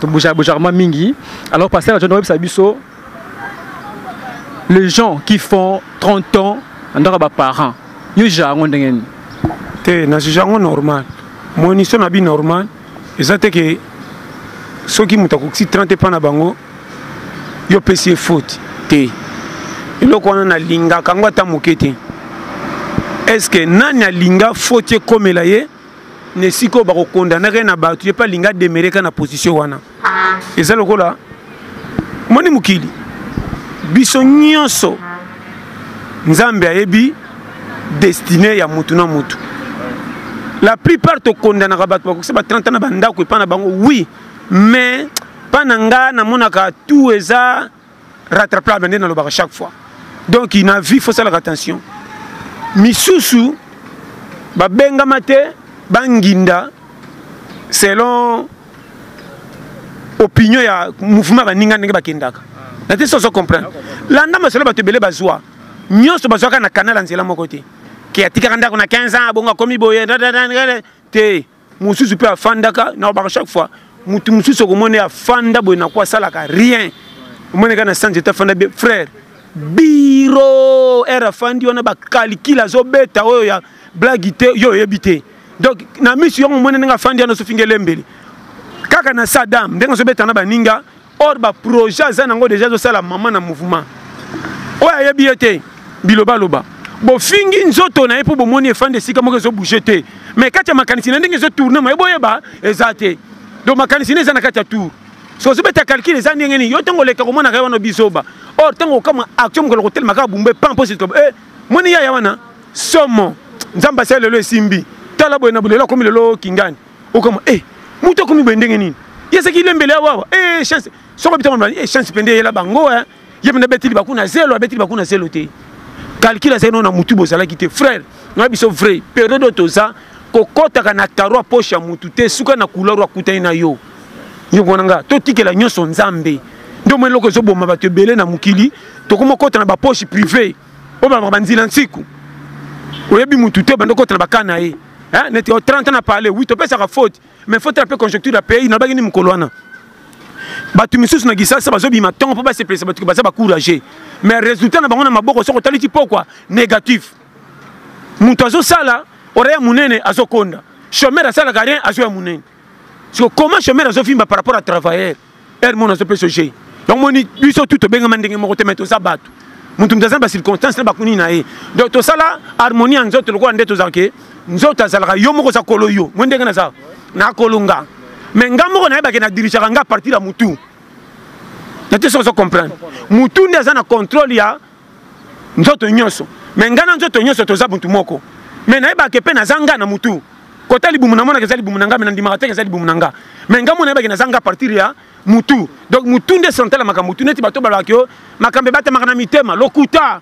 tobujabujarma mingi alors pasteur na jono oyebisa biso les gens qui font 30 ans na ndako ya baparent yo jugea yango ndenge nini te na jugea yango normal monisio na bi normal eza te ke soki moto akokisi 30 epa na bango yo opesi ye faute te eloko wana nalingaka yango ata moke te estce que nani alinga faute ekomela ye na esika oyo bakokondanaka ye na bato ye mpe alingi ademereka na position wana eza lokola moni mokili biso nyonso nzambe ayebi destine ya motu na motu la plupart tokondanaka bato bakokisa ba 30 na bandako epai na bango oui mais mpa na nga namonaka tout eza rattrapable nde nalobaka chaque fois donc na vie faut salaka attention misusu babengama te banginda selon opinion ya mouvement baninga ndenge bakendaka na te soso comprendre landa masolo bato ebele bazwa nyonso bazwaka na kanal ya nzela moko te ke atikaka ndako na 15 ans abongo akomi boye te mosusu mpe afandaka na obaka chaque fois motu mosusu okomona ye afanda boye nako asalaka rien omoni kaka na sanze te afanda be frère biro ere afandi wana bakalikile azobeta oyo ya blagi te yo oyebi te donc na misu yango omoni ndenge afandi wana azofinga elembeli kaka na sadam ndenge azobeta na baninga or ba projet aza nango deja ezosala mama na mouvement oyo ayebi ye te bilobaloba bofingi nzoto na ye mpo bomoni efandi esika moko ezobouge te mais kati ya makanisi na ndenge ezotourne maye boyeba eza te donc makanisi na eza na kati ya tour so ozobeta calcul eza ndenge nini yo ntango oleka komonaka ye wana bizoba or ntango okama action mokolo kotelema kaka bumbe pan mpo sitoba e eh, moni yaya wana somo nzambe asali lelo esimbi tala boye na bolelo akomi lelo kingani okama eh mutu akomi boye ndenge nini yesaki lembele ya wawa eh chance soko bitama na eh chance pende yela bango hein ye mena beti libaku na zelo abeti libaku na zelo te calcul azali no na mutu bozalaki te frère na biso vrai période oyo toza kokɔtaka na karo ya poche ya mutu te suka na couleur oyo akutani na yo yoko na nga totikela nyonso nzambe nde omoi eloko ezoboma bato ebele na mokili tokoma kota na bapoche privé oyo babaka banzila nsiku oyebi mutu te obanda okota na bakana na ye eh, neti 30 ans na parle wi topesaka faute mais faute na mpe conjoncture ya pays nalobaki ni mokolo wana bato misusu na kisasa bazobima ntongo mpo basepelisa bato baza bacourage mais résultat na bango na maboko soki otali ti pokwa négatif moto azosala oreya monene azokonda chomere asalaka rien azwa ya monene siko comment chomere azovimba par rapport à travailleur heure mona azopesa ojei yango moni biso tu tobengama ndenge moko te mai toza bato moto moto aza na bacirconstance na bakuni na ye donc tosala harmonie ya nzoto lokola nde tozala ke nzoto azalaka yo moko oza kolo yo moi ndenge naza nakolonga mai nga moko nayebake na dirigeaka nga partir ya motu nate soki ozo comprendre motu nde aza na contrôle ya nzoto nyonso me ngai na nzoto nyonso toza buntu moko me nayebaka epe naza ngai na motu kota libumu namonaka eza libumu na ngai me nandimaka teke eza libumu na ngai me ngai mo nayebaki naza ngai partir ya mutu donc mutu nde central ya makambo mutu neti bato balobaka yo makambo ebatamaka na mitema lokuta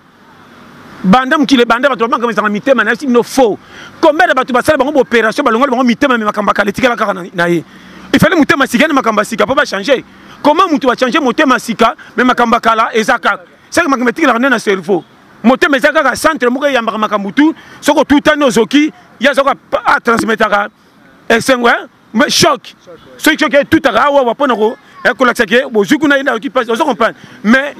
banda mokili ebanda bato bamakambo ezanga mitema nayebisi bino faux combien ya bato basala bango baopération balongoli bango mitema me makambo akala etikala kaka na ye ifale motema sika na makambo ya sika mpo bachange comment moto achange motema sika me makambo akala eza kaka seke makambo etikelaka nde na cerveau motema eza kaka centre moko eyambaka makambo tu soki otutani ozoki ye azoki atransmetaka esengo eh, eh, choc soki choc etutaka awawa ah, mpo na eh, kolakisa ke bozwi kuna ye nayoki mpasi ozo comprendre mais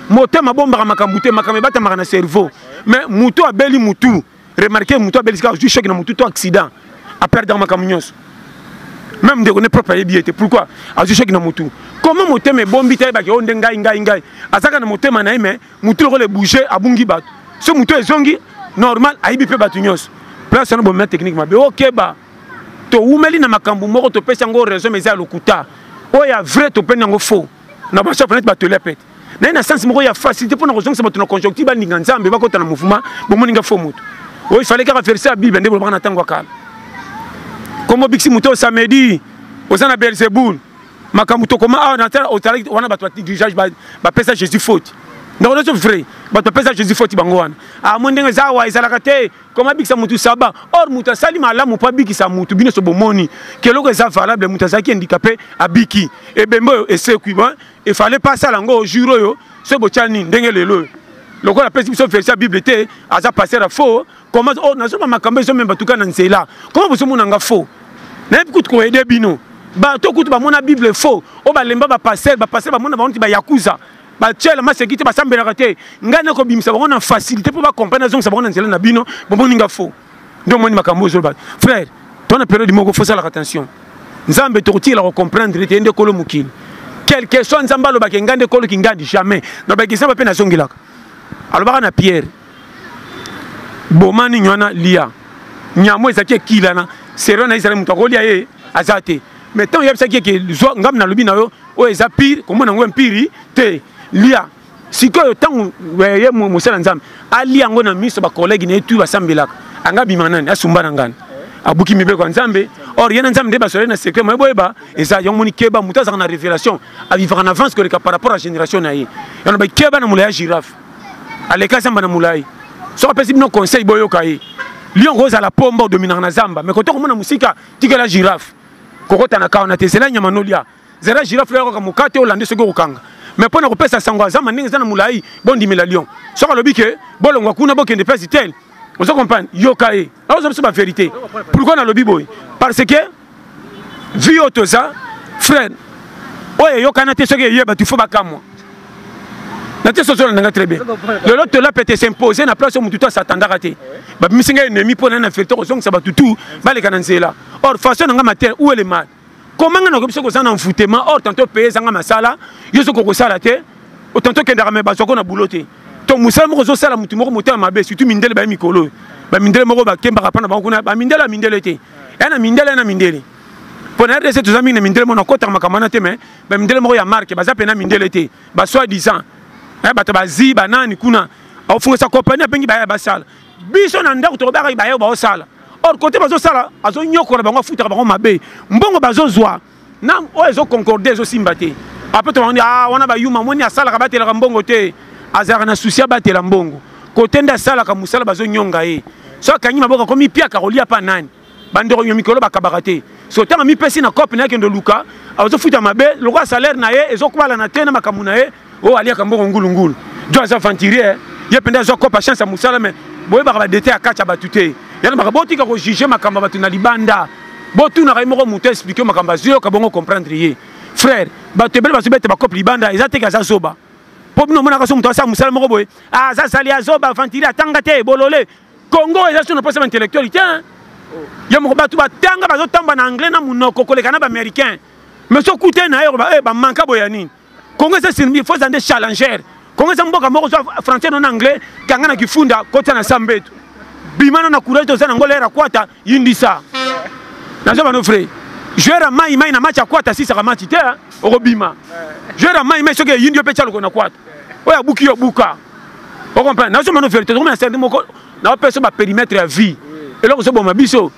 motema abombaka makambo te makambo ebatamaka na cerveau mais motu abeli motu remarquer mutu abelisi kaka ozwi choc na mutu to accident aperdaka makambo nyonso même ndeko ne propre ayebi ye te pourquoi azwi choc na mutu koma motema ebombi te ayebaki oyo oh, nde ngai ngai ngai azalaka na motema na ye me mutu lokola ebouge abungi bato so mutu ezongi normal ayebi mpe bato nyonso place wana bomema technique mabe okeba towumeli na makambo moko topesi yango raison mais eza ya lokuta oyo ya vrai topeni yango faux na ba chapelet ba tele pete naye na sens moko ya facilité mpo na kozongisa bato na conjonctive balinga nzambe bakota na mouvement bomoni nga fo moto oyo ifale kaka verse ya bible nde bolobaka na ntango ya kala kombo biksi moto samedi oza na belzebul makambo tokoma awa na otalaki wana bato badirigage bapesa jésus faute ndako nyonso vrai bato bapesa jésus faute bango wana amoi ah, ndenge eza awa ezalaka te koma abikisa mutu saba or mutu asali malamu mpo abikisa mutu bino so bomoni keloko eza valable mutu azalaki handicapé abiki ebembe oyo esekwi efale mpe asala yango jour oyo soki botya nini ndenge lelo oyo lokola apesi biso verse ya bible te aza paster ya faux koma oh, nazomba makambo ezomema tuka na nzela koma bozomona nga faux nayebi kutu koyede bino bato kutu bamona bible faux oyo balemba bapaster bapaster bamona bango ti bayakuza batiala maseki te basambelaka te ngai nakobimisa bango na facilité mpo bacomprene azongisa bango na nzela na bino bomoni nga fo nde omoni makambo ozoloba frère to na periode moko fosalaka attention nzambe tokotikela kocomprendre te ye nde kolo mokili quelque soit nzambe alobaka engai nde kolo kingandi jamais nalobaki nzambe mpe nazongelaka alobaka na pierre boma nini wana lia nyamo ezalaki ekilana serio na ye ezali moto akolia ye aza te mais ntango oyebisaki eke zwa ngambi nalobi na yo oyo eza pire komona yango empiri te lia sikoyo ntango eh, ye mosala nzambe alia yango na miso bakolege na ye tu basambelaka anga abima nani asumba na ngani abuki mibeko ya nzambe or ye na nzambe nde basolai na secret moye boyeba eza yango moni keba moto azalaka na révélation avivaka na avance koleka par rapport ya génération na ye yango bai keba na molai ya girafe aleka zamba na molai soki apesi bino conseil boyoka ye liongo ozala pomba odominaka na zamba me koto komona mosika tikela girafe kokota na kawana te zela nyama nolia zela girafe oya kaka mokate olande soki okokanga mais mpo na kopesa sango azamba ndenge eza na molai bondimela lion soki alobi ke bolongwa kuna bokende place tel ozo comprendre yoka ye aoza biso baverité pourkoi nalobi boye parce que vi oyo toza frère oyo eyokana te soki eye bato ifo bakamwa natie sozona na nga très bien lelo tola pete s'impose na place oyo motu to asatandaka te babimisi ngai ennemi mpo na na fete kozongisa bato tu baleka na nzela or façon na nga matin ou ele mal koma ngai nakoki biso koza na envoutema or tanto paye ezanga masala yo soki okosala te tanto okendaka me bazwako na boulot te to mosala moko ozosala motu moko motema mabe surtout mindele baye mikolo oyo bamindele moko bakembaka mpo na bango kuna bamindele ya mindele te ya na mindele ya na mindele mpo na rdc toza mingi na mindele mona kotaka makambo wana te me ba mindele moko ya marque baza pena mindele te ba soit disant eh bato bazi banani kuna ofungisa compagnie abengi baye basala biso na ndako tokobaka baye baosala or kote bazosala azonyokola bango afutaka bango mabe mbongo bazozwa na oyo ezoconcorde ezosimba te apres tobandi a ah, wana bayuma moni asalaka batelaka mbongo te azalaka na susi abatela mbongo kote nde asalaka mosala bazonyonga ye so akangi maboko akomi piaka kolia mpa nani bandeko ya mikolo bakabaka te so ntango amipesi na cope na ye kende oluka azofuta mabe lokola salaire na ye ezokubalana te na makambo na ye oyo aliaka mbongo ngulungulu jo aza aventurier ye mpenza azwa cope ya chance ya mosala me boyebaka badete ya kati ya bato te yana maka botika kojuge makambo ya bato na libanda botunaka ye moko moto explike makambo azwi yoka bongo comprendre ye frère bato ebele bazobete bacope libanda eza teke aza zoba mpo bino omonaka so moto asala mosala moko boye ah, aza zali azoba aventurier atanga te bolole congo eza so na posa ba intellectuel te yo moko bato batanga bazotamba na anglais na monoko koleka na baaméricain mais so okutani na yero eh, bamanka boya nini congo eza sinbi fo eza nde challenger congo eza mboka moko zwa français no na anglais kanga na kifunda kota na sambetu bima no na courage toza nango lera kwata yindisa naza bano frais joueur ya mai mai na match ya kwata asisaka match te okobima joueur ya mai mai soki eyindi yo mpe tya lokona kwata oyo abuki yo buka o comprendre nazo mano verité tokoma na sende moko naopesa ba périmètre ya vie eloko ezoboma biso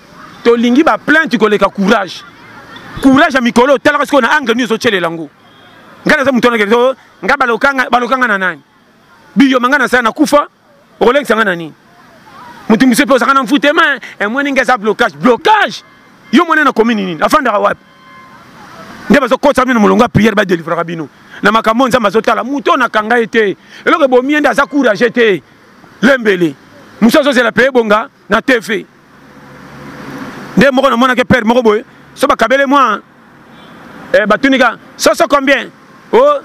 tolingi ba plainte koleka courage courage ya mikolo otalaka sikoyo na angle nini ozotyelela yango ngai naza moto wanakende oh, ngai balokanga na nani biyoma ngai nasala nakufa okolekisa ngai na nini moto mosusu mpe ozaka na mfutema emoni eh, ngai eza blocage blocage yo mwana na komini nini afandaka wapi nde bazokotisa bino molongo ya priere badelivraka bino na makambo nzambe azotala moto oyo nakanga ye te eloko ebomi ye nde aza courage te lembele mosu azozela mpe ebonga na tv nde moko namonaki pere moko boye so bakabele mwa eh, batunika soso combien o oh,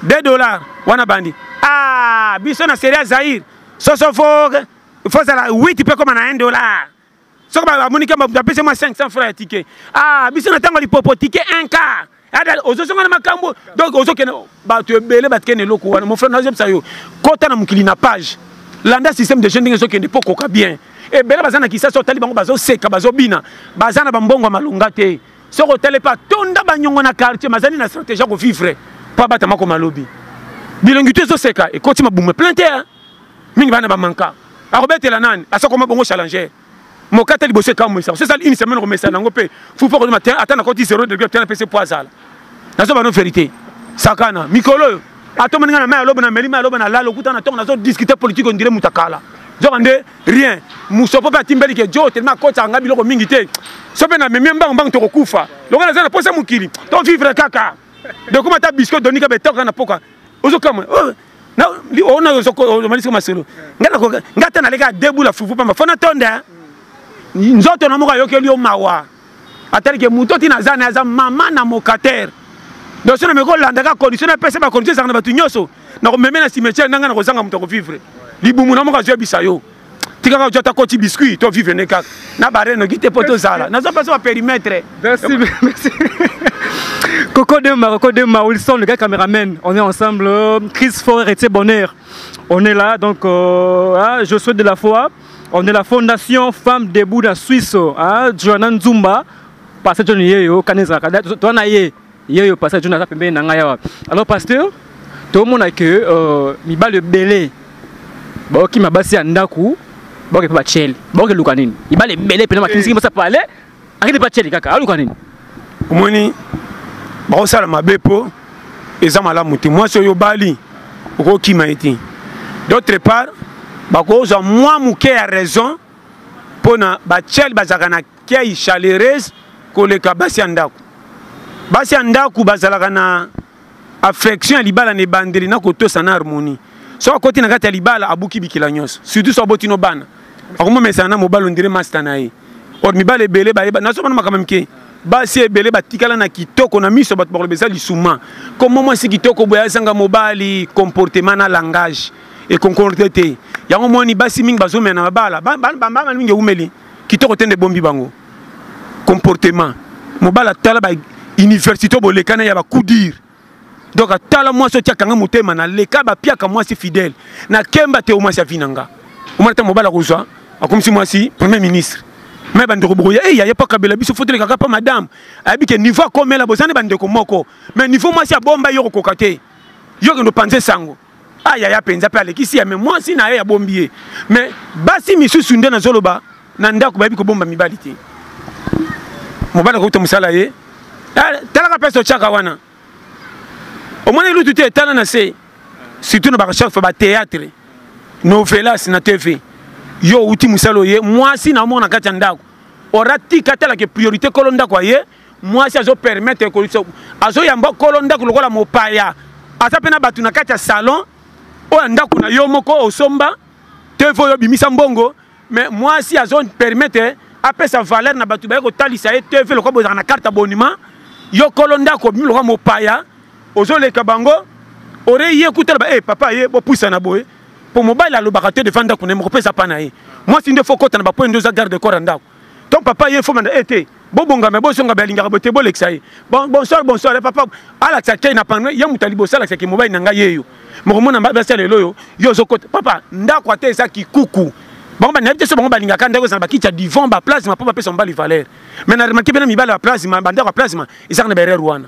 2 dollars wana bandi ah biso na seria zaire soso fo fozala 8 mpe koma na 1 dollar soki bamoni ke moto apesi mwa 500 franc ya tike ah biso na ntango ya lipopo tike 1 car ozozonga na makambo donc ozokende bato ebele batikende eloko wana mofre nazobisa yo kota na mokili na page landa système de jeune ndenge ezokende mpo okoka bien ebele baza na kisasa otali bango bazoseka bazobina baza na bambongo ya malonga te soki otali mpe atonda banyongo na quartier mazali na stratégie ya kovivre mpo abatama komalobi bilongi to ezoseka ekoti mabumu plein te mingi bana bamanka akobetela nani asakoma bongo challenger moka ata liboso ekamwisa osi esali une semaine okomesana yango mpe fupo kodima ata nakoti 0 degré tena pese po azala nazoba no verité sakana mikolo oyo atomani ngai na mai aloba na meli mai aloba na lala okuta na ntongo nazo discuter politique ondire moto akala nzoka nde rien mosopo mpe atimbeli ke jo telema akotaka ngai biloko mingi te so mpe na memie mbangu mbangu tokokufa longo naza na posa mokili to vivre kaka dekoma ata bisco donika betoka na poka ozokama oh, ona ozomalisi masolo nga te naleka debula fufu pamba fo natonda nzoto na moko ayokeli yo mawa atalike moto ti naza na aza mama na mokatere donc so nameki kolandaka condition napesa bacondition ezalaka na bato nyonso nakomeme na cimetiere na ngai nakozanga moto akovivre libumu na moko azoyebisa yo tika kaka ata koti biscuit to vivre ne kaka na bare noki te mpo tozala naza mpasi ba perimetre Coco Dema, Coco Dema, Wilson, le gars caméraman, on est ensemble. Chris Forer et Bonheur, on est là. Donc, euh, hein, je souhaite de la foi. On est la Fondation Femmes Debout de la Suisse. Hein, Joanna Nzumba, passé Johnny Yeyo, Kanezaka. Toi, Naye. ye yo pasteur John aza pembeni na ngai awa alors pasteur tomona ke euh, mibali ebele baokima basi ya ndako baoke mpe bachele baoke luka nini mibali ebele mpena makinisiki eh. basa pale akende mpe achele kaka aluka nini omoni bakosala mabe mpo eza malamu te mwasi oyo obali okokima ye te d'autre part bakozwa mwa moke ya raison mpo na bachele bazalaka na kiai chalereuse koleka basi ya ndako basi ya ndako bazalaka na affection ya libala na ebandeli na kotosa na harmonie so akoti na kati ya libala abuki bikila nyonso surtout so aboti no bana akomomesana na mobali ondire masta na ye or mibali ebele bayeba nazomona makambo mike basi ebele batikala na kitoko na miso bato bakoloba eza lisuma komo mwasi kitoko boye azanga mobali comportement na langage ekoncorde te yango moni basi mingi bazomela na babala bambala mingi eumeli kitoko te nde bombi bango comportement mobala tala ba université bolekana ya bakudir donc atala mwasi otiaka nga motema naleka bapiaka mwasi fidèle nakemba te omwasi avi na nga omona ntango mobala akozwa akomisi mwasi premier ministre me bandeko bokoya eyi aye mpo kabela biso fo tolekaka mpo madame ayebi ke niveau akomela boza nde bandeko moko mais niveau mwasi abomba yo kokoka te yo kende opanze sango a ah, yaya mpenza mpe alekisi ya me mwasi na ye ya bombi ye me basi misusu nde nazoloba na ndako bayebi kobomba mibali te mobali akokota mosala ye eh, talaka mpesa otyaka wana omoni lutu te etala na se surtout na barecherche bateatre novelas na tv yo outi mosala oye mwasi na omona na kati ya ndako oratika atalaka priorité kolo ndako aye mwasi azo permettre kolisa azo yamba kolo ndako lokola mopaya aza mpe na bato na kati ya salon oyo ya ndako na yo moko osomba te fo yo bimisa mbongo mais mwasi azo permettre apesa valeur na bato baye kotalisa ye tv lokola bozalaka na carte abonnement yo kolo ndako obimi lokola mopaya ozoleka bango ore ye kutala ba e eh, hey, papa ye bopusana boye mpo mobali alobaka te devant ndako na ye mokopesa pa na ye mwasi nde fo kota na bapoye nde oza garde corps ya ndako to papa ye fo manda ete eh, bobongama bozonga balingaka bote bolekisa ye bonsoir bonsoir eh, papa alakisa kei na pano ye moto aliboso alakisa ke mobali na ngai ye yo mokomona basala lelo oyo yo ozokota papa ndako ata eza kikuku bango banayebi te so bango balingaka ndako ezala bakiti ya divan baplasma mpo bapesa mobali valeur mai na remake mpena mibali ya plasma bandako ya plasma ezaka na baerreur wana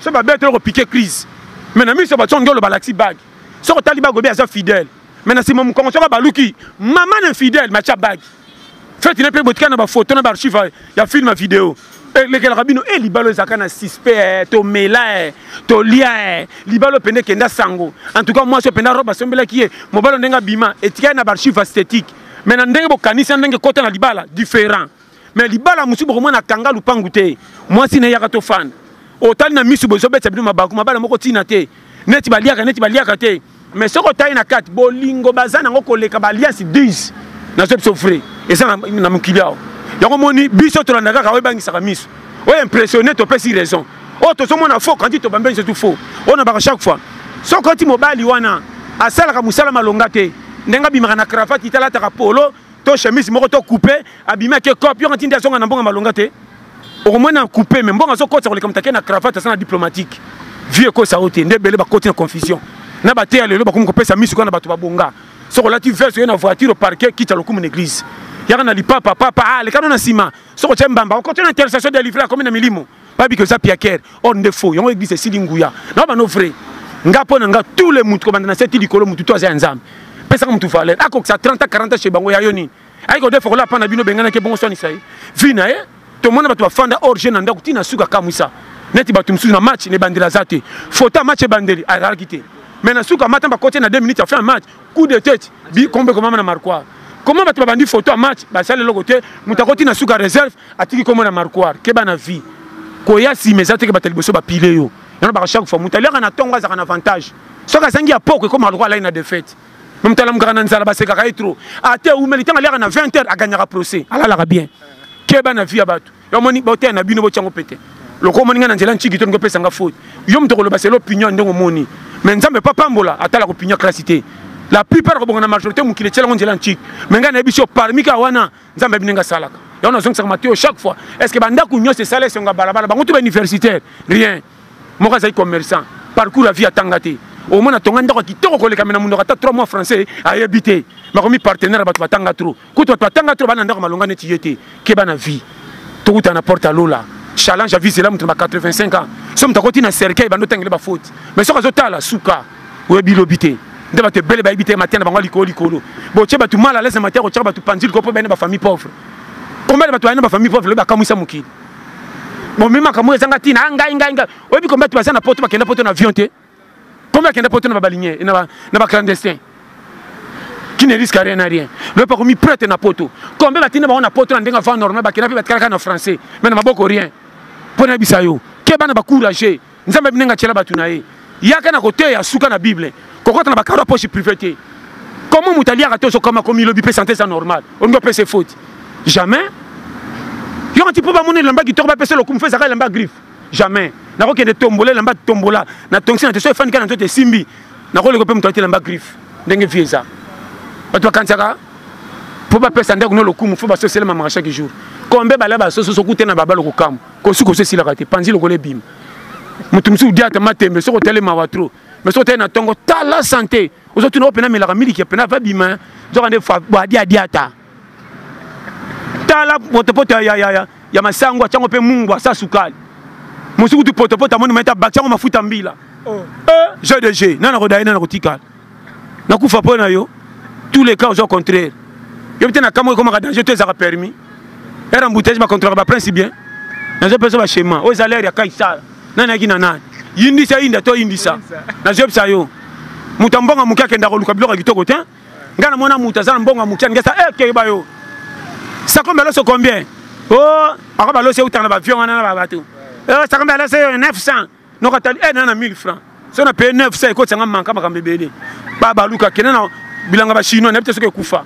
so ba bête ko piquer crise mais na miso ba tsongo ba laxi bag so ko tali ba gobe aza fidèle mais na sima mukongo tsongo ba luki maman ne fidèle ma cha bag fête na pe botika na ba photo na ba archive ya film vidéo eh, lekelaka bino e eh, libalo ezalaka na sispe eh, tomela e tolia e libalo pende kenda sango en tout cas mwasi openda robe asombelaki ye mobalo ndenge abima etikali na baarchive esthétique mais na ndenge bokanisi na ndenge ekota na libala différent mais libala mosusu bokomona kanga lupangu te mwasi na yaka tofanda otali na misu boye ezobetisa bino mabaku mabala moko ntina te neti baliaka neti baliaka te mais soki otali na kati bolingo baza nango koleka baliasi 10 nazo biso vrai eza na mokili awa yango omoni biso tolanda kaka oyo ebangisaka miso oyo impressionne topesi raison oyo tozomona faux kandi tobambeli surtout faux oyo nabaka chaque fois soki oti mobali wana asalaka mosala malonga te ndenge abimaka na cravate italataka polo to chemise moko to coupe abimi ake cop yo ngatindi azonga na mbonga malonga te okomona na coupe me mbonga azokotisa koleka moto ake na cravate aza na diplomatique vie ekosa yo te nde ebele bakoti na confusion na bateya lelo bakomi kopesa misu kaka na bato babonga soki olati veste oye na voiture oparke kita lokumu na église yaka na lipapa papa alekano ah, na nsima soki otya mbamba okoti na intercession de livre akomi na milimo babi que oza piaker or nde faux yango eglise esili nguya na bano vrai nga mpo na nga tous les mutu kobanda na seti likolo mutu to aza ya nzambe pesaka mutu valeur akokisa 30 40 chez bango ya yo nini ayeke odefa kola mpa na bino benganaki ebongo swanisa ye vi na ye tomona bato bafanda or je na ndako ntina suka kamwisa neti bato mosusu na match na ebandeli aza te fota match ebandeli azalaki te mais na suka mata bakoti na 2 minutes afin match coup de tete bikombe komama na marquoire koma bato babandi foto ya match basali eloko te moto akoti na suka reserve atiki kombo na marquoir keba na vie koya nsima eza teke bato ya liboso bapile yo yango baka chaque fois moto aliaka na ntongo azalaka na avantage soki azangi ya poko ekoma lokola alai na defete me moto alamukaka na nzala basekaka ye trop ate ah, umeli ntango aliaka na 20 heure aganyaka procès alalaka bien keba na vie ya bato yomoni boteya na bino botyango pete lokola omoni ngai na nzela nciki to ndenge opesanga faute yo moto okoloba selo opinion ndenge omoni me nzambe pa pambola atalaka opinion klasi te la plupart akobonga na majorité mokili etyela yango nzela nciki me ngai nayebisi yo parmi ka wana nzambe ayebi ndenge asalaka yango nazongisaka matoyo chaque fois est ce que bandako nyonso esala esengo ya balabala bango to bauniversitaire rien moko azali commerçant parcours ya vie atanga te omona tonga ndako ya kitoko kolekame na monoko ata 3 mois français ayebi te makomi partenaire ya bato batanga tro kutu bato batanga tro bana ndako malonga neti ye te keba na vie tokuta na porte ya lola challenge ya vie zela moto na ba 85 ans so moto akoti na cercueil bando otangele bafaute mais soki azotala suka oyebi lobi te nde bato ebele bayebi te mateya na bango likolo likolo botie bato mal alaise na mateya kotyaka bato panzi likolo mpo bayina bafamille pauvre combien de bato bayina bafamille pauvre lobi bakamwisa mokili bomi makambo oyo ezanga ntina ngai ngai ngai oyebi combien bato baza na poto bakenda poto na avion te combien akenda poto na babalinye na baclandestin qui ne risque rien à rien loyebi akomi prete na poto combien batinda bango na poto na ndenge avant normal bakenda mpe batikalaka na français mais na maboko rien mpo nayebisa yo keba na bacourage nzambe abinenga atyela bato na ye yaka na koteya suka na bible kokota na bakaro ya poche prive te komo moto aliaka te ozokoma komilobi mpe sante eza normal olingi opesa efoti jamais yoko ti mpo bamona elamba kitoko bapesa lokumu fo ezaka elamba griffe jamais nakokende tombola elamba tombola na tongisi na te so efandi kaka na nzoto esimbi nakoleka mpe moto alati elamba griffe ndenge vie eza bato bakanisaka mpo bapesa ndako no lokumu fo basoselema maka chaque jour kombe bala basoso sokute na babalo kokamwa kosukosu esilaka te panzi lokola ebima moto mosusu diata matembe soki otali mawa tro mais soki otali na ntongo tala sante ozotuna opena melaka miliki ya pena vabima nzoka nde bwadiadiata tala potopoto ya, ya, ya, ya masango atyango mpe mungwa sa sukali mosuku tu potopoto amoni maita bakyango mafuta mbila oh. eh, jeu de jeu nana kodaye nana kotikala na kufa po na yo tous les cas ozo contraire yo peut na kamo ekomaka danger to ezaka permis heure embouteillage ba contrôlaka ba prince bien nazo pesa ba schéma oyo eza l'air ya kaisala nani ayaki na nani yindisa yinda to yindisa nazo yebisa yo moto ya mbongo ya moke akenda koluka biloko ya kitoko te ngai na mwana moto aza na mbongo ya moke aninga sa ekeba eh, yo sakombe aloso combien o oh, akoba alosi eutana na bavion wana na babato eh, sakombe alosi 900 nokatali eh, na na 1000 francs soki na paye 900 ekotisa nga manka makambo ebele babaluka kende na bilanga bachinois nayebi te soki ekufa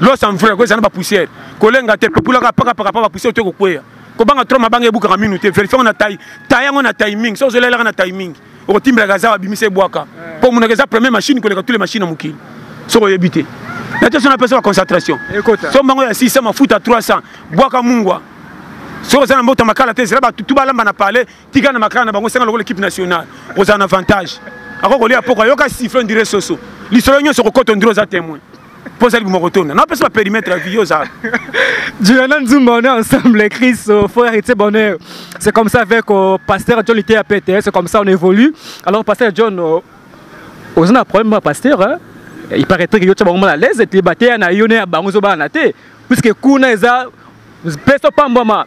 los en vrai koyesa na bapoussière kolenga te pepulaka pakapaka pa bapoussière to ekokweya kobanga tro mabanga ebukaka minu te verifie yango na tai tai yango na timing soki ozolelaka na timing okotimbelaka aza abimisa ebwaka mpo omonaka eza premier machine koleka tule machine ya mokili soki oyebi te na te so napesa baconcentration so mbango ya 600 mafuta 300 bwaka mungwa soki oza na mboto makala te zela batutu balamba na palais tika na makala na bango senga lokola equipe nationale kozala na avantage ako kolia poko ayoka siffle ondire soso lisolo nyonso kokota ondire oza témoin mpo ozali buma kotonda napesa baperimetre ya vie oza juliana nzumba on est ensemble chris euh, fo héritier bonheur c'est comme ça avec euh, pasteur john liteya pete c'est comme ça on évolue alors pasteur john euh, oza na problème ya pasteur hein? il paraîtrait que yo tya bango mal à l'aise ete bateya na yo ne ya bango ezobana te puisque kuna eza pesa opambwama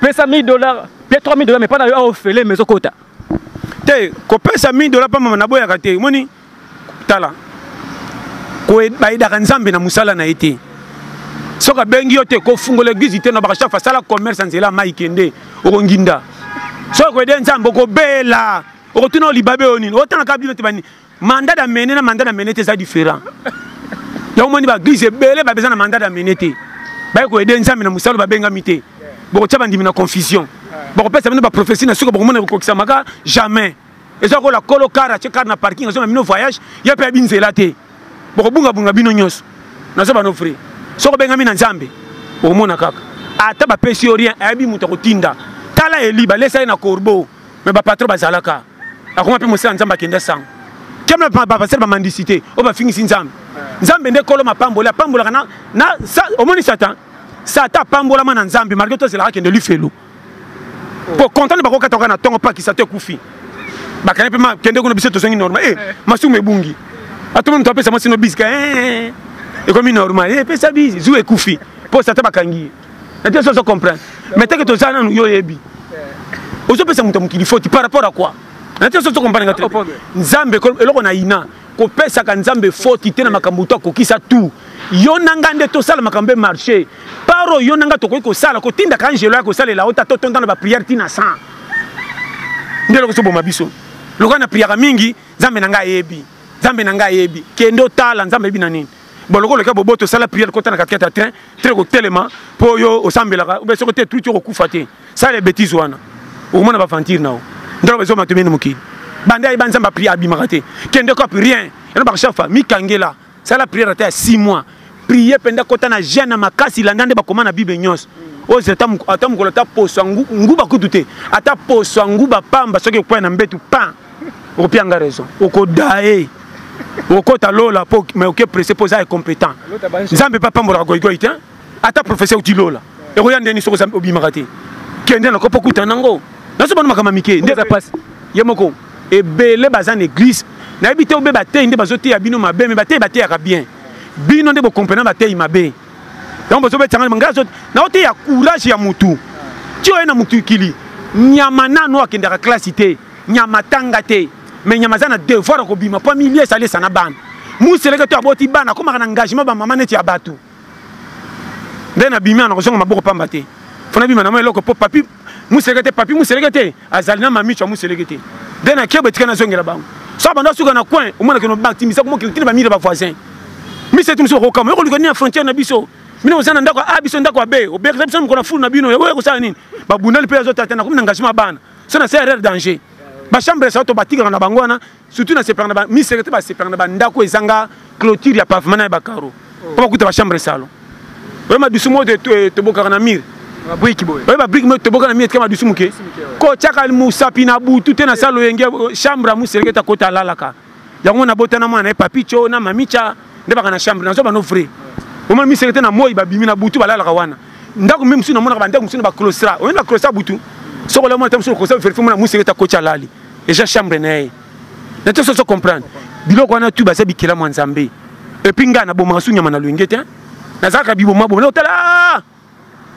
pesa 1000 dollars pe 3000 dollars mais pas na yo ofele mais okota te kopesa 1000 dollars pa mama naboyaka te moni tala bayedaka nzambe na mosala na ye te soki abengi yo te kofungola eglize te na bakashafa asala commerce ya nzela mai kende okonginda soki koyede nzambe okobela okotuna olibabe oyo nini otangaka bino te banini mandat d'amener na mandat d'amener te eza différent yango omoni baeglise ebele babeza na mandat d'amener te baye koyede nzambe na mosala babengami te bokotya bandimi na confusion bakopesa bino baprofesi na suka bokomona ekokokisamaka jamais eza kola kolo kar atye kar na parking azonga bino voyage ye mpe abi nzela te bokobungabunga bino nyonso nazo bano vrai soki obengami na nzambe okomona kaka ata bapesi yo rien ayebi moto akotinda tala eli balesa ye na corbeau me bapatro bazalaka akoma mpe mosala nzambe akenda sango kema bapastere bamandisi te oyo bafingisi nzambe nzambe nde kolo mapamboli apambolaka na, na sa, omoni satan satan apambolama na nzambe malgre to azelaka kende lifelo mpo kontane bakokataka na ntongo pakisa to ekufi bakani mpe makende kuna biso tozongi normal e eh, eh. masumu ebungi atoma moto apesa mwasi no bisika eh, ekomi normal epesa bisi zu ekufi mpo satan bakangi ye nate soso comprendre mais teke toza nanu yo oyebi ozopesa moto ya mokili foti par rapport à quoi nate soso comprendre nga te nzambe eloko na ina kopesaka nzambe foti te na makambo to akokisa tout yo na ngai nde tosala makambo emarche par oyo yo na ngai tokoki kosala kotindaka angelo ya kosalela ota totonda na bapriere ntina 100 nde eloko soboma biso lokola na priaka mingi nzambe na ngai ayebi nzambe na ngai ayebi kende otala nzambe ayebi na nini bon lokola oleka boboto sala priere kota na katikati ya train train kotelema mpo yo osambelaka ube soko te truti okokufa te sala ebetise wana okomona baventure nao ndako ezoma tomeni mokili banda ayeba nzambe apri abimaka te kende cop rien yana bakashafa mikangela sala priere ata ya 6 mois prie mpenza kota na jeune na makasi landa nde bakoma na bible nyonso oze ata mokolo ata poso nguba kutu te ata poso nguba pamba soki ekwai na mbetu pan opia nga raison okodae okota lola po mais oke presse po oza incompétent nzambe mpe apambolaka goigoi te ata professeur outi lola ekoya ndeni soki obimaka te kende na kopo kuta nango naso bano makambo mike nde eza mpasi ye moko ebele baza na église nayebi te obe bateyi nde bazoteya bino mabe me bateyi bateyaka bien bino nde bokomprena bateyi mabe yango bozobetanga ngai naoteya courage ya motu ti oye na mokili nyama nano akendaka klasi te Nyama atanga te mais nyama aza na devoir ya kobima mpo amili esi alesa na bana museleke to aboti bana akomaka na engagement bamama neti ya bato nde nabimi ana kozonga maboko pamba te mpo nabima na mwa eloko mpo papi museleke te papi museleke te azali na mamicho ya museleke te nde nakie botika nazongela bango so banda suka na coin omonake nobatimisa komokilitini bamiri bavoisin miseti mosusu okokama yokoluka nini ya frontière na biso bino oza na ndako a biso ndako abe obekisa biso mokona fulu na bino ekoya kosala nini babundali mpe azotata nakomi na engagement ya bana so na se erreur danger ba chambre sa to batikaka na bango wana surtout na sepelaka na ba mi secrétaire ba sepelaka na ba ndako ezanga clôture ya pavement na ya ba carreau po bakuta ba chambre salon oyo madusu mo eh, tobokaka na mire babriki boye oyo babriki moyo toboka na mie tika madusu moke kotyaka mosapi na butu te na salo yenge chambre ya moseleke ta kota alalaka yango na bota na mwana na ye papicho na mamicha nde baka na chambre nazo bano vrai omona miseke te na moi babimi na butu balalaka wana ndako mpe mosusu namonaka bandako mosusu na baclostra oyebi baclostra butu soko ola mwana te mosusu okosa verifie mona moseke te akoti alali eja chambre na ye na te soso comprendre biloko wana tu baza bikela mwa nzambe epuis ngai nabomaka su nyama na loyenge te nazalaka bibomaboma otala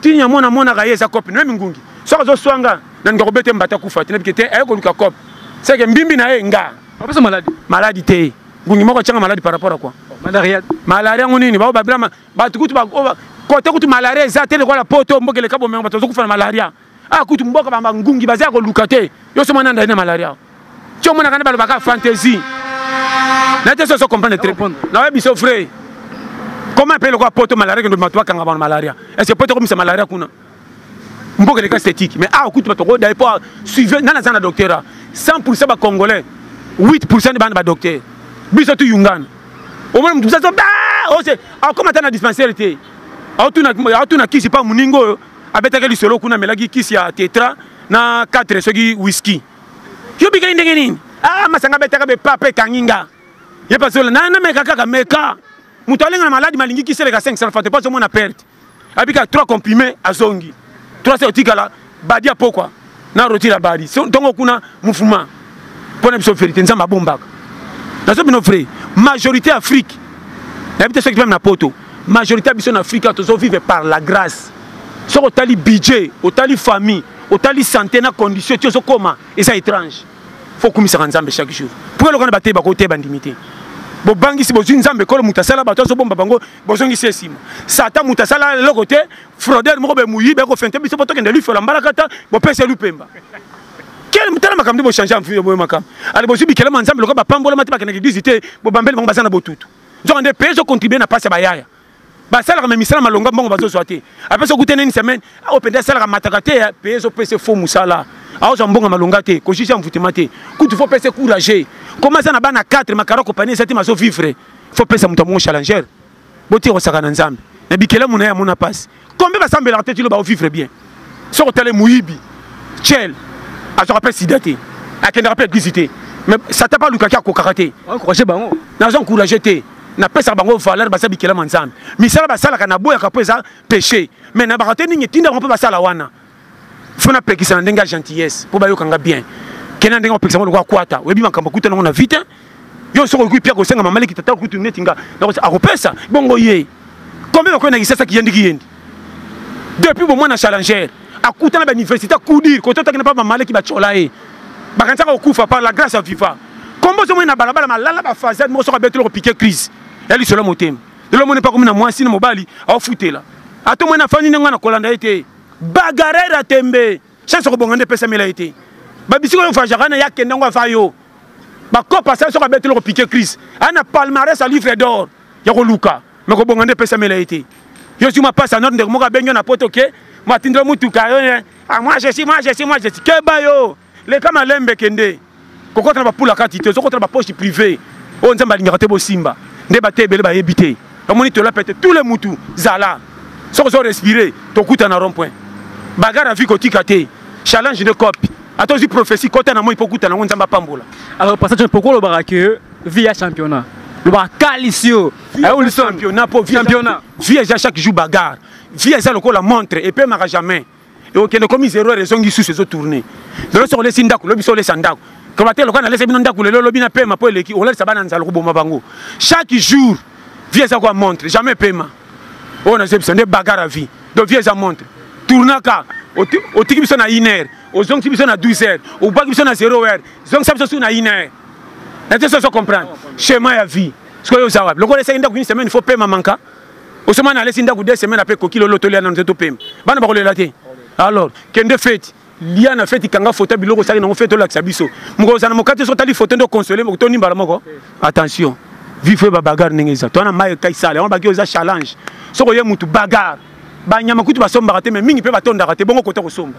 tinya mwana amonaka ye eza cope nemi ngungi soki azoswa nga na ndika kobete mbata kufa te nabike te aye koluka cope seke mbimbi na ye nga apesa maladi maladi te ngungi moko atyanga maladi par rapport a quoi malaria malaria yango nini bao babila bato kutu kote kutu malaria eza te lokola poto mboka eleka bomengo bato bazokufa na malaria a ah, kutu mboka bamba ngungi baza ya koluka te yo somo nanda ye na malaria ti omonaka nde balobaka fantaisie na te soso comprendre très naoye biso vrai koma mpe lokola poto malaria kendo bato bakanga bango malaria est ce que poto ekomisa malaria kuna mboka eleka esthétique mais awa kutu bato okodaye mpo suive nani aza na docteur a 100 pourcent bacongolais 8 pourcent nde bana badocteur biso tuyungana omona moto bisaso ose akoma ata na dispensaire te aotuna kisi mpa moninga oyo abetaki lisolo kuna amelaki kisi ya tetra na 4 soki whisky yo bikeli ndenge nini ah masanga abetaka be papa ekangi nga ye pasola na na meka kaka meka moto alenga na maladi malingi kisi eleka 500 fante pas omona perte abika 3 comprimé azongi 3 otikala badia pokwa na roti la bari so ntongo kuna mufuma mpo na biso verité nzambe abombaka nazo bino vrai majorité afrique nayebi te soki meme na poto majorité ya biso na afrika tozo vivre par la grâce soki otali budget otali famille otali santé na condition ti ozokoma eza étrange fo okumisaka nzambe chaque jour mpo eloko na bateyi bakoki te bandimi te bobangisi bozwi nzambe ekolo moto asala bato azobomba bango bozongisi esima sata moto asala eloko te fraudeur moko be muyibi ako fente biso poto kende lui fola mbalakata bo pese lui pemba quel mutala makam ndi bo changer en vie bo makam ale bo zubi kele manzambe lokola ba pambola mati bakende l'église te bo bambeli bango bazana botutu nzoka nde peso contribuer na pasi ya bayaya basalaka me misala malonga mbongo bazozwa te apesa okute nini semaine oyo mpenza asalaka mataka te peye ezopesa fo mosala aozwa mbongo malonga te kojuge ya mvutema te kutu fo pesa courage komasa na bana 4 makara kopani eza te mazovivre fo pesa moto ya mongo challenger botika kosaka na nzambe na bikelamu na ye amona mpasi kombe basambelaka te tino baovivre bien soki otale moyibi chel azwaka mpe sida te akendaka mpe eglise te mais satan mpe alukaki akokaka te encourage bango naza encourage te napesaka bango valeur baza bikelama nzambe misala basalaka naboyaka mpo eza péché mais nabaka te ndenge etinda bango mpe basala wana faut napekisa na ndenge ya gentillesse mpo bayoka nga bien kena ndenge opekisa ngo lokola kwata oyebi makambo akuta nango na vite yo soki okoki pia kosenga mama leki tata okutu neti nga akopesa bongo ye combien bakoki na kisasa kiyendi kiyendi depuis bomwana challenger akuta na bauniversité akudir kote otaki na mpa mama leki batyola ye bakanisaka kokufa par la grâce ya viva kombo ozomoni na balabala malala bafasade moko soki abeteli kopike crise ya lisolo motema lelo omoni mpa komi na mwasi na mobali aofutela ata omoni afandi ndenge wana kolanda ye te bagarera tembe sese okobonga nde epesamela ye te babisika oyo fajaka na ye akenda yango afa yo bakopa sala soki abeteli kopike crise aa na palmarès ya livre d'or ya koluka me kobonga nde epesamela ye te yo zuma pasi anor ndeko moko abengi yo na poto ke matindela motuka yo eh, ah, moi jesi moi jesi moi jesi keba yo leka malembe kende kokota na bapula kati te ozokota na bapoche privé oyo nzambe alingaka te bosimba nde bate ebele bayebi te bamoni tola pete tous le mutu zala soki ozo respire tokuta na rond point bagara vi kotika te challenge de cope ata ozwi prophétie kota na moi mpo okuta nango nzambe apambola alors passage mpoko olobaka ke vi ya championnat lobaka kalisi yo championnat mpo vi eza chaque jour bagare vi eza lokola montre epemaka jamais okende komi zero heure ezongi susu ezo tourne lelo soki olesi ndako lobi so olesa ndako koba te lokola nalesa bino ndako lelo lobi na pema mpo eleki olalisa bana nzala koboma bango chaque jour vie eza kwa montre jamais pema oyo nazebisa nde bagara vie donc vie eza montre tournaka otiki biso na une heure ozongisi biso na 12 heures obwaki biso na 0 heure zongisa biso susu na une heure na te so ozo comprendre chemin ya vie sikoyo oza wapi lokola esaki ndako une semaine faut pema manka osomani alesi ndako de semaine ape koki lolo tolia nano te topema bana bakolela te alors kende feti lia na feti kanga foto biloko osali nango feti olakisa biso mokolo ozala na mokati soki otali foto nde okonsole toni mbala moko attention vifo ye babagare ndenge eza twana mai ekai sale yango baki oza challenge soki oye motu bagare banyama kutu basombaka te mai mingi mpe batondaka te bongo kota kosomba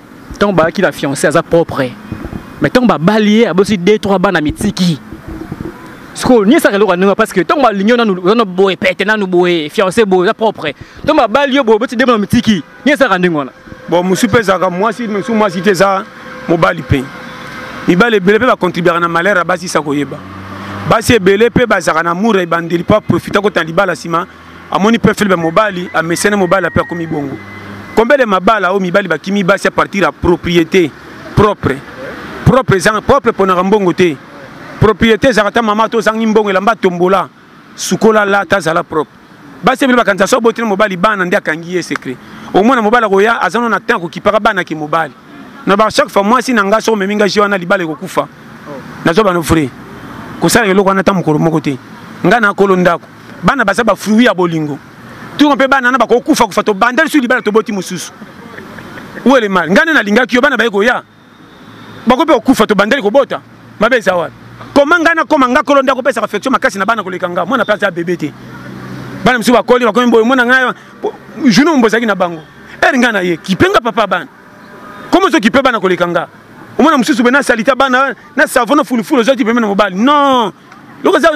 Tant ba qui la fiancée aza propre. Mais tant ba balier abosi deux trois bana mitiki. Sko ni ça loka nunga parce que tant ba lignon nanu nanu boye pète nanu boye fiancée boye aza propre. Tant ba balier boye bosi deux bana mitiki. Ni ça kanunga na. Bon musupe zaka mwasi musu mwasi te za mobali pe. Mibale bele pe ba contribuer na malheur abasi sa koyeba. basi ebele mpe bazalaka na amour ebandeli mpo aprofita kotala libala nsima amoni pe filme mobali amesene mobali ape akomi bongo combien de mabala oyo mibali bakimi basi a partir ya propriété propre propre ezanga propre ponaka mbongo te propriété ezalaka ta mama to ozangi mbongo elamba tombola sukola lata azala propre basi ebele bakanisa so oboteli mobali bana nde akangi ye secret omona mobali akoya aza no na temps akokipaka bana ke mobali na ba chaque fois mwasi na ngai so omemi ngai je wana libala ekokufa nazwa bano vrai kosalaka eloko wana ata mokolo moko te ngai nakolo ndako bana baza ba fruit ya bolingo toko mpe bana na bakokufa kufa tobanda lisusu libala toboti mosusu uele mal ngai nde nalingaki yo bana baye koya bako mpe kokufa tobandeli kobota mabe eza wapi koma ngai nakoma ngai kolo nde akopesaka affection makasi na bana koleka ngai mwana mpe aza bebe te bana mosusu bakoli bakomi boye mwana ngai journée mombo ozalaki na bango ere ngai na ye kipe nga papa bana komi ozo kipe bana koleka nga omona mosusu boye nasalita bana na savona fulufulu ozwaki pembe na mobali non loko eza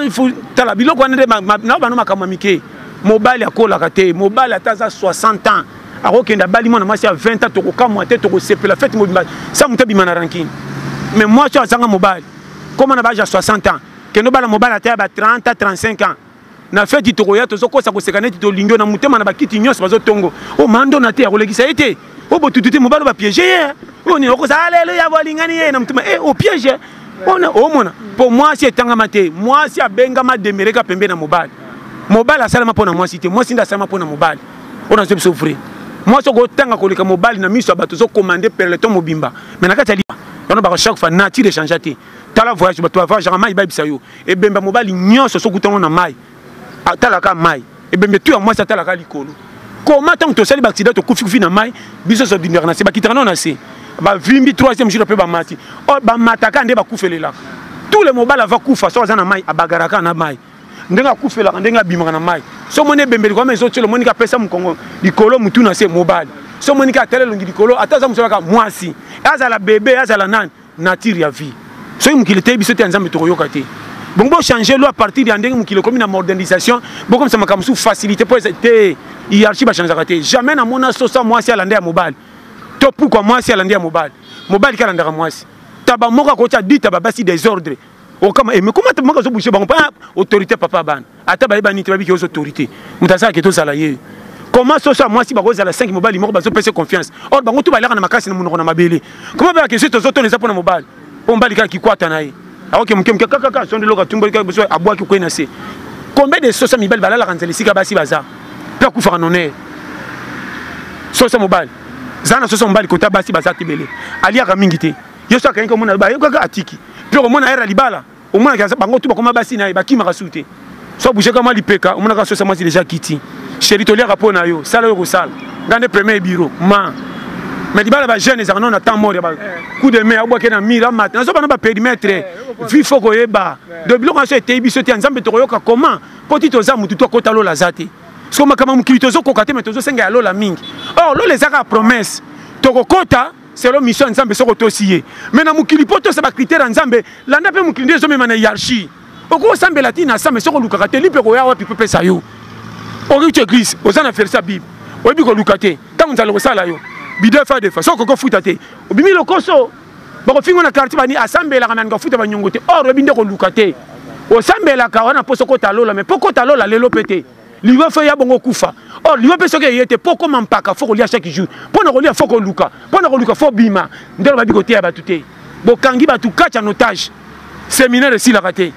tala biloko wana nde nao bano makambo ya mike mobali akolaka te mobali ata aza 60 ans akokende abali mwana mwasi ya 20 ans tokokamwa te tokosepela fete mobimba sa moto abima na rankine mais mwasi oyo azanga mobali koma na baage ya 60 ans kende obala mobali ata ya ba 30 35 ans na feti tokoya tozokosa koseka neti tolingi yo na motema na bakiti nyonso bazotongo o oh, mando na te akolekisa ye te o oh, botutu te mobali bapiege ye eh. oyo oh, nini okosa aleluya bolingani ye na motema e opiege ona omona mpo mwasi etangama te mwasi abengama demereka pembe na mobali mobali asalama mpo na mwasi te mwasi nde asalama mpo na mobali oyo nazo biso vrai mwasi okotanga koleka mobali na miso ya bato ozokomande perleton mobimba me na kati ya liba wana baka chaque fois nature echangea te tala voyage bato bavageaka mai bayebisa yo ebemba mobali nyonso soki utango na mai atalaka mai ebembe tu ya mwasi atalaka likolo koma ntango tosali baaksida tokufi kufi na mai biso nyonso bindaka na se bakitaka nao na se bavimbi troisième jour mpe bamati oh, bamataka nde bakufelelaka tout le mobali ava kufa soki aza na mai abagaraka na mai ndenge akufelaka ndenge abimaka na mai so omoni ebembeli kwama ezotyela omoniki apesa mokongo likolo motu na se mobali so omoniki atala elongi likolo ata aza mosala kaka mwasi azala bebe azala nani nature ya vie soki mokili eteyi biso te ya nzambe tokoyoka te bongo bochange loi à partir ya ndenge mokili ekomi na modernisation bokomisa makambo mosusu facilité mpo eza te hiérarchie bachangeaka te jamais namona sosa mwasi alanda ya mobali to pukwa mwasi alanda ya mobali mobali ke alandaka mwasi taba moko akotya dita babasi desordre okama eme koma te maka zobushe bango pa autorité papa bana ata bayeba nini te babiki ozo autorité moto azala ke tozala ye koma soso ya mwasi bakozala 5 mobali moko bazopesa confiance or bango tu balaka na makasi na monoko na mabele koma beyaka esi tozotona eza mpona mobali mpo mobali kaka kikwata na ye aoke moke moke kakaka sondo eloko atumboli kaka biso abwaki kwei na se combien de soso ya mibali balalaka nzela esika basi baza mpe akufaka nonee soso mobali zala na soso mobali kota basi baza te bele aliaka mingi te yesu akangaki omona bayokaka atiki mpe okomona ere ya libala omonaka bango tu bakoma basi na ye bakimaka su te so bougeka mwa lipeka omonaka sosa mwasi deja kiti sheri toliaka mpo na yo sala oyo kosala ngai nde premier biro ma mais libala bajeune ezalaka nao na temps mort ya coup de main abwake na mire amata nazoba na baperimetre vi fo koyeba donc biloko nyonso eteyi biso te ya nzambe tokoyoka comment mpo ti toza motu to akota lola aza te soko makambo ya mokili tozokoka te me tozosenga ya lola mingi or lola ezaka promesse tokokota selo mission ya nzambe soki otosi ye me na mokili mpo tosa bacritère ya nzambe landa mpe mokili nde ezomema na hiarchie okoki osambela ti na same soki olukaka te lipe koya wapi mpo pesa yo okiuti église oza na verse ya bible oyebi koluka te ntango nzala kosala yo bide fa defa soki okoki ofuta te obimi lokoso bakofingo na quartier bani asambelaka nani kofuta banyongo te or oyebi nde koluka te osambelaka wana mposo kota lola me mpo kota lola lelo mpe te liwa fo ya bongo kufa or liwa mpe soki eye te mpo okoma mpaka fo kolia chaque jour mpo na kolia fo koluka mpo na koluka fo bima nde lobabi koteya bato te bokangi bato kati ya notage seminaire esilaka te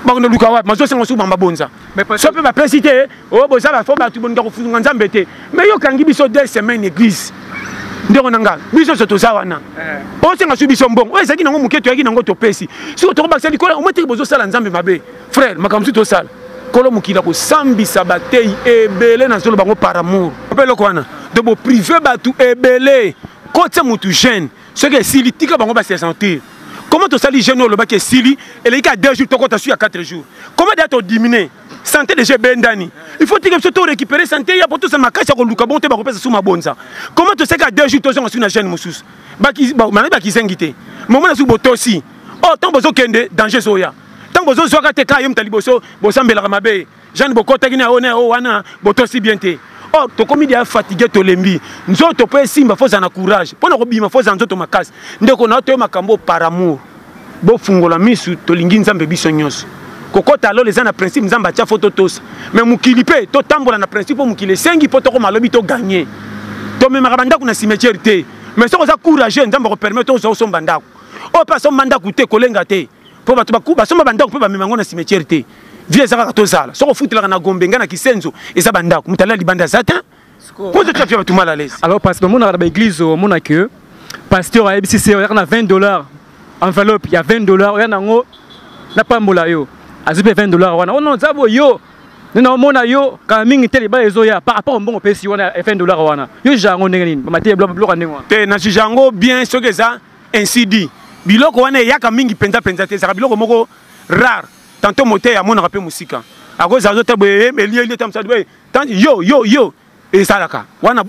bakende luka wapi mazosenga suku bamba bonza so mpe bapesi te o oh, boza bafo bato boninga kofunga nzambe te mai yo okangi biso deux semaine église ndeko na ngai biso nyonso toza wana eh. osenga su biso mbongo oyo ezalaki nango moke toyaki nango topesi soki tokobakisa likolo omotiki bozosala nzambe mabe frère makambo mosusu tosala kolo mokili akosambisa bateyi ebele na zolo bango par amour mpe eloko wana donc boprive bato ebele kotya motu jeune soki esili tika bango base sentir comment tosali jeune oyo olobaki esili eleki ka 2 jours tokota su ya 4 jours comment deya todimine santé déjà ebendani il faut tika biso to récupérer santé ya po tosala makasi ya koluka bongo te bakopesa su mabonza comment toseka 2 jours tozonga su na jeune mosusu manaki bakizengi te momo na suki botosi oyo oh, ntango bozokende danger ezoya ntango bozozwaka te kaka yo moto ya liboso bosambelaka mabe jeanne bokotaki na one o wana botosi bien te or oh, tokomi deya fatigue tolembi nzoto mpo esimba fo ozala na courage mpo na kobima fo ozala nzoto makasi ndeko na yo toye makambo par amour bofungola misu tolingi nzambe biso nyonso kokota alola eza na principe nzambe atya fo totosa me mokili mpe totambola na principe mpo mokili esengi mpo tokoma lobi toganye tomemaka bandako na cimetiere te mais soki oza courageux nzambe akopermettre ozwa osomba ndako oyo mpe asomba ndako te kolenga te mpo bato basomba bandako mpe bamema yango na cimetière te vie eza kaka tozala soki ofutelaka na gombe ngai na kisenzo eza bandako moto alela libanda eza te mpo te tafia bato mal à l'aise alors parce que omonaka na baeglise omona que pasteur ayebisi se oyaka na 20 dollars enveloppe ya 20 dollars oya nango napambola yo azwi mpe 20 dollars wana ono nzabo yo nde naomona yo kala mingi te libala ezoya par rapport mbongo opesi wana ya 20 dollars wana yo jango ndenge nini bamate biloko ndenge wana te na jango bien soki eza ainsi dit biloko wana eyaka mingi mpenza mpenza te ezalaka biloko moko rare tanto moteyi amonaka mpe mosika akozala zo te boye eh, elieli ete mosali boye yo yo yo ezalaka wana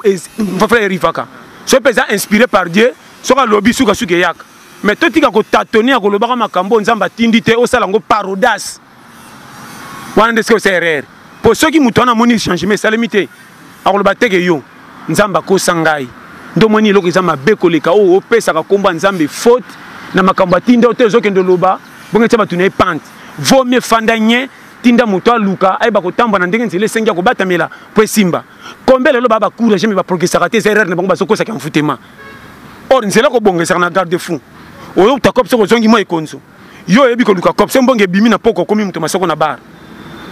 fafla erivaka soki mpe eza inspiré par dieu soki alobi sukasuka eyaka mais totika kotatone ya kolobaka makambo oyo nzambe atindi te osala yango parodas wana nde sikoyo osa erreur mpo soki moto wana amoni changement esalemi te akoloba teke yo nzambe akosa ngai nde omoni eloko eza mabe koleka oyo opesaka nkombo ya nzambe faute na makambo atinda yo te ozokende oloba bongo etya bato na ye pante vo mie fanda nye tinda moto aluka ayeba kotambwa na ndenge nzela esengi ya kobatamela mpo esimba kombe lelo baa bacourage me baprogressaka te eza erreur na bango bazokosaka envoutema or nzela kobongesaka na garde fou oyo utakob soki ozongi mwa ekonzo yo oyebi koluka cop se mbongo ebimi na poko okomi moto masoko na bar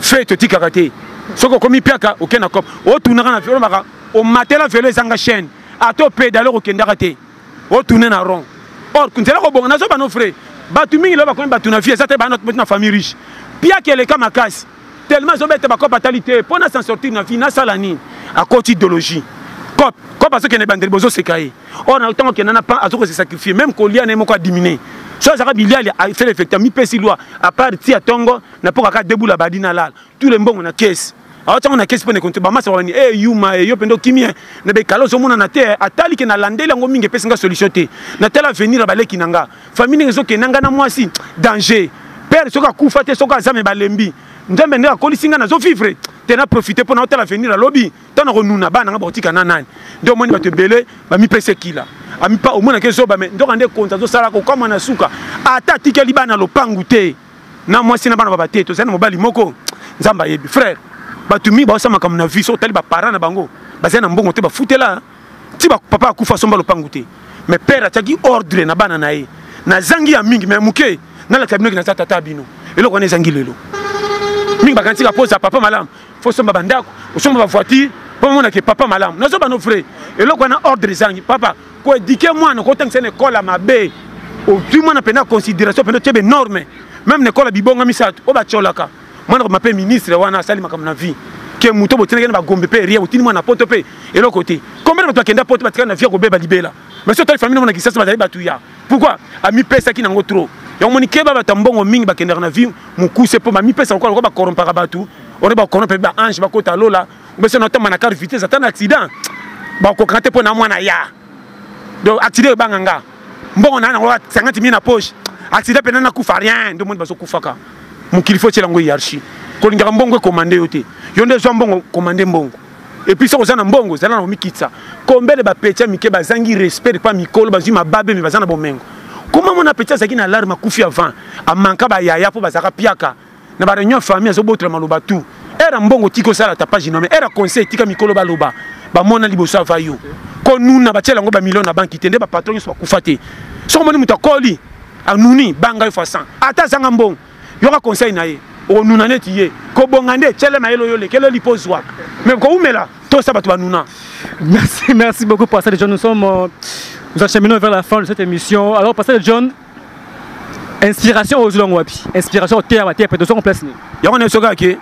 fe totikaka te soki okomi piaka oke na cop otunaka na olobaka omatela velo ezanga chaîne ata opedale okokendaka te otune na rond or nzela kobonga nazobano frais bato mingi lelo bakomi bato na vie eza te bana na famille riche piaka eleka makasi tellement ezobeta bacope atali te mpo na s'en sortir na vie nasala nini akoti idéologie cope cope azokende ebandeli bozoseka ye or na ntango akenda na pan azokose sacrifie même kolia na ye moko adimine so azalaka biliali asala effecte amipesi lwa apart ti ya ntongo na mpo kaka debula badi na lala tout le mbongo na kesi aotiango na kesi mpo nekonte bamasa wani e eh, yuma e eh, yo mpenza okimi eh. na bekala ozomonana te atalike nalandeli yango mingi epesi nga solution te natala avenir ya baleki na nga famille ndenge ezokende na ngai na mwasi danger père soki akufa te soki aza me balembi nzambe nde akolisi ngai nazo vivre te na profite mpo naotala avenir alobi ntango nakonuna bana ngai bakotika na nani nde omoni bato ebele bamipesa ekila amipa omonaki ezoba me ndoka nde konzi azosala kokama na suka ata atikeli bana lopangu te na mwasi na bana baba te tozali na mobali moko nzambe ayebi frère bato mingi baosala makambo na vie so otali baparent na bango bazali na mbongo te bafutela ti papa akufa asomba lopangu te mais père atiaki ordre na bana na ye nazangi ya mingi mais moke nalakisa bino ke naza tata bino eloko wana ezangi lelo mingi bakanisi ka posa papa malamu fo osomba bandako osomba bavoiture mpo omonake papa malamu nazoba no vrai eloko wana ordre ezangi papa koedike mwana kotangisa na ekole ya mabe ozwi mwana mpenza considération mpenza otye benorme meme na ekole ya bibonga misato oyo batyolaka mwana koma mpe ministre wana asali makambo na vie ke moto botinaki na bagombe mpe rien botindi mwana poto mpe eloko te combien bato bakenda poto batikali na vie ya kobeba libela mais so otali famille na mona kisasa bazali bato ya pourquoi amipesaki nango trop yango moni keba bato ya mbongo mingi bakendaka na vie mokuse mpo bamipesa lokola lokola bakorompaka bato ore bakorompe mpe baange bakota lola obese na otamba na car vitesse ata na accident bakokaka te mpo na mwana ya donc accident ebanga nga mbongo na yango 50 mille na poche accident pena na kufa rien ndio moni bazo kufaka mokili faut tiela ngo hiérarchie kolingaka mbongo ekomande yo te yo nde zwa mbongo komande mbongo et puis soki oza na mbongo zala na komikitisa combien de bapetia mike bazangi respect pa mikolo bazwi mababe me baza na bomengo koma mona petia azalaki na alarme akufi avant amanka bayaya mpo bazalaka piaka na ba réunion famille azo botola maloba tout era mbongo tiki osala tapage nome era conseil tika mikolo baloba bamona liboso ava yo ko nuna batiela yango bamilio na banki te nde bapatron nyonso bakufa te soki omoni moto akoli anuni banga yo fasan ata azanga mbongo yoka conseil na ye okonuna neti ye kobonga nde tyele mayele oyo olekele lipo ozwa me kowumela tosa bato banuna merci merci beaucoup pasteur john nous sommes euh, nous acheminons vers la fin de cette émission alors pasteur john inspiration ozwi yango wapi inspiration oteya bateya mpe tozongo place nini yango nde soki ake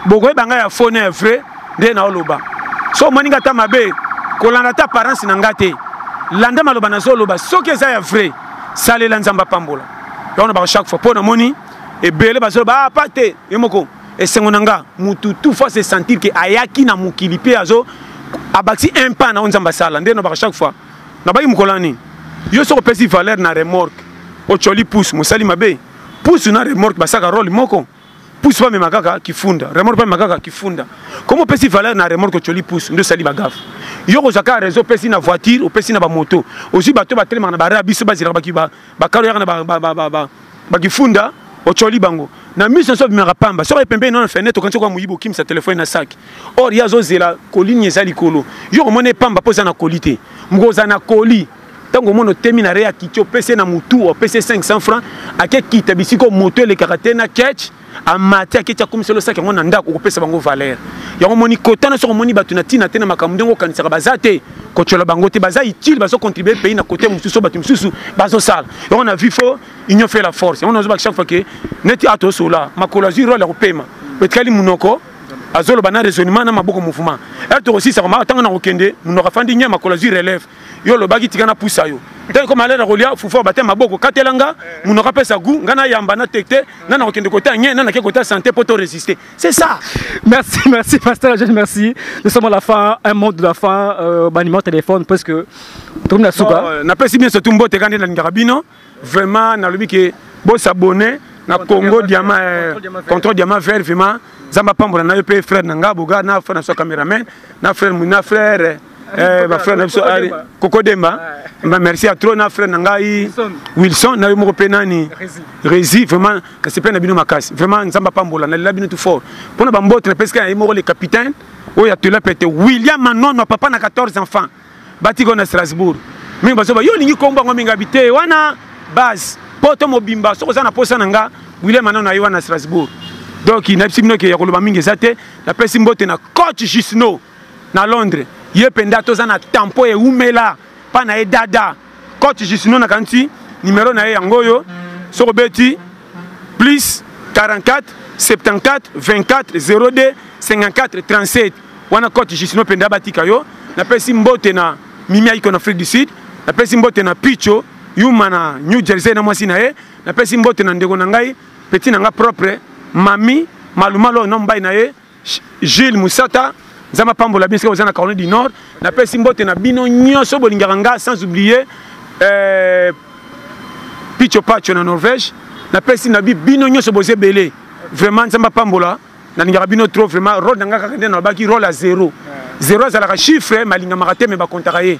bokoyeba ngai ya fo na ya vrai nde naoloba so omoni ngai ata mabe kolanda ata apparence na ngai te landa maloba nazoloba soki eza ya vrai salela nzambe apambola yango nabaka chaque fois mpo namoni ebele bazoloba apa ah, te ye moko esengo na nga mutu tout fois se sentir ke ayaki na mokili mpe azo abakisi un pas na oyo nzambe asala nde nabaka chaque fois na bayi mokolo ya nini yo soki opesi valeur na remorque ocoli pousse mosali mabe pousse na remorque basaka role moko pousse bamema kaka kifunda remorque bamema kaka kifunda comme opesi valeur na remorque ocoli pousse nde osali bagafe yo kozwa kaka réseau opesi na voiture opesi na bamoto ozwi bato batelemaka na barre ya biso bazilaka bakalo yaka na bakifunda ocoli bango na miso nso obimaka pamba soki oye pembeni na fenêtre okanisi okoya moyibi okimisa telefone na saki or ye azozela kolini eza likolo yo komona epamba mpo eza na koli te moko oza na koli ntango omona otemi na rea kiti opesi ye na motu opesi ye 500 franc ake kita bisika moto elekaka te na ketch amati aketi akomisa losaki yango na ndako okopesa bango valeur yango omoni kotana soki omoni bato na ntina te na makambo ndenge okanisaka baza te kotyola bango te baza utile bazocontribue pays na kote mosusu oyo bato mosusu bazosala yango na vie fo union fait la force yango nazobaki chaque fois ke neti a tosola makolo azwi role ya kopema etikali monoko azoloba na raisonnement na maboko mouvement e tokosisa komaka ntango na kokende monoko afandi nye makolo azwi relève yo olobaki tika na pusa yo ntango ekoma alena kolia fufu ya batema maboko katela nga monoko apesa gu nga nayamba na tekte na nakokende kota nye na nake kota sante mpo to résister c'est ça merci merci pasteur jeune merci nous sommes à la fin un mot de la fin euh, banima téléphone parce que tokomi na suka napesi bien surtout mbote ka nde nalingaka bino vraiment nalobi ke bo s'abonner na Congo diamant euh, contrôle diamant vert vraiment nzambe apambola na yo mpe frère na nga boga na frère na biso cameraman na frère na frère euh, euh, bafrère na biso koko demba merci ya trop na frère na ngai wilson na yo moko mpe nani rési vraiment nasepeli na bino makasi vraiment nzambe apambola nalela bino tout fort mpo na bambote napesika na ye moko le capitaine oyo atela pete william manono papa na 14 enfants batika na strasbourg mingi bazoba yo olingi kombo yango mingi abite wana base poto mobimba soki oza na posa na nga william anano aye wana strasbourg donc nayebisi bino ke ya koloba mingi eza te napesi mbote na coach jusno na londres ye mpenza toza na tempo ewumela mpa na ye dada coach Jusino nakanisi numero na ye yango oyo soki obeti plus 44 74 24 02 54 37 wana coach Jusino mpenza batika yo napesi mbote na mimi aiko na afrique du sud napesi mbote na picho yuma na new jersey na mwasi na ye napesi mbote na ndeko na ngai peti na ngai propre mami malumalu oyo nombai na ye Jules Musata nzambe apambola bino soki boza na caroline du nord napesi mbote na bino nyonso bolingaka nga sans oublier euh, picho pacho na norvège napesi na bi bino nyonso boza ebele vraiment nzambe apambola nalingaka bino trop vraiment role na nga kaka nde nalobaki role ya zero zero azalaka chiffre malingamaka te me bakontaka ye